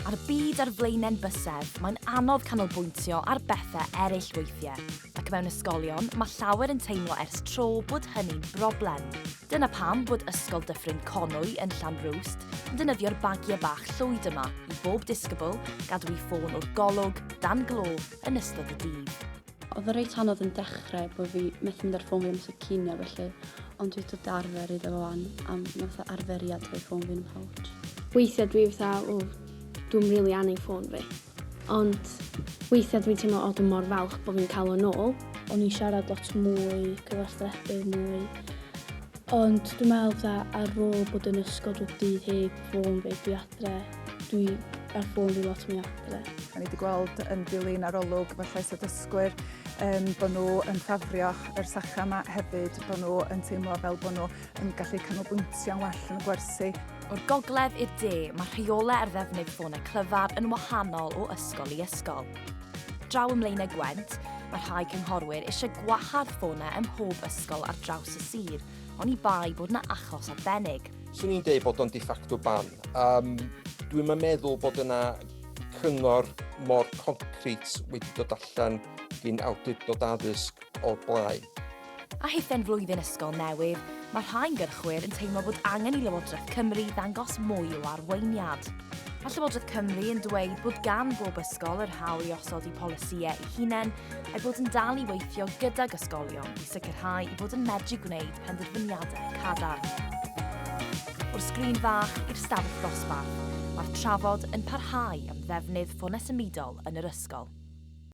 A'r byd ar flaenau'n bysedd, mae'n anodd canolbwyntio ar bethau eraill weithiau, ac mewn ysgolion, mae llawer yn teimlo ers tro bod hynny'n broblem. Dyna pam bod Ysgol Dyffryn Conwy yn Llanrwst yn defnyddio'r bagiau bach llwyd yma i bob disgybl gadw ei ffôn o'r golwg, dan glo, yn ystod y dydd. Oedd o reit anodd yn dechrau bod fi methu mynd ar ffôn fi am sy'n cynio felly, ond dwi dod arfer iddo fo fan am fatha arferiad o'i ffôn fi'n ymhawt. Weithiau dwi fatha, o, dwi'n rili really anni ffôn fi. Ond weithiau dwi'n teimlo, o, dwi'n mor falch bod fi'n cael o'n ôl. O'n i'n siarad lot mwy, cyfathrebu mwy. Ond dwi'n meddwl fatha ar ôl bod yn ysgol drwy dydd heb ffôn fi, dwi Dre. Dwi ar ffôn fi lot mwy adre. Da ni wedi gweld yn dilyn arolwg fy llais y dysgwyr um, bod nhw yn ffafrioch yr sacha yma hefyd, bod nhw yn teimlo fel bod nhw yn gallu canolbwyntio'n well yn y gwersi. O'r gogledd i'r de, mae rheolau ar ddefnydd ffônau clyfar yn wahanol o ysgol i ysgol. Draw ym Mlaenau Gwent, mae rhai cynghorwyr eisiau gwahardd ffônau ym mhob ysgol ar draws y sir, ond i bai bod yna achos arbennig. Swn i'n dweud bod o'n de facto ban. Um, Dwi'n meddwl bod yna cyngor mor concret wedi dod allan gyn awdurdod addysg o'r blaen. A hithau'n flwyddyn ysgol newydd, mae rhai gyrchwyr yn teimlo bod angen i Lywodraeth Cymru ddangos mwy o arweiniad. Mae Llywodraeth Cymru yn dweud bod gan bob ysgol yr hawl i osod i polisïau ei hunain a'i bod yn dal i weithio gydag ysgolion i sicrhau i bod yn medru gwneud penderfyniadau cadarn. O'r sgrin fach i'r stafell ddosbarth, mae'r trafod yn parhau am ddefnydd ffonau symudol yn yr ysgol.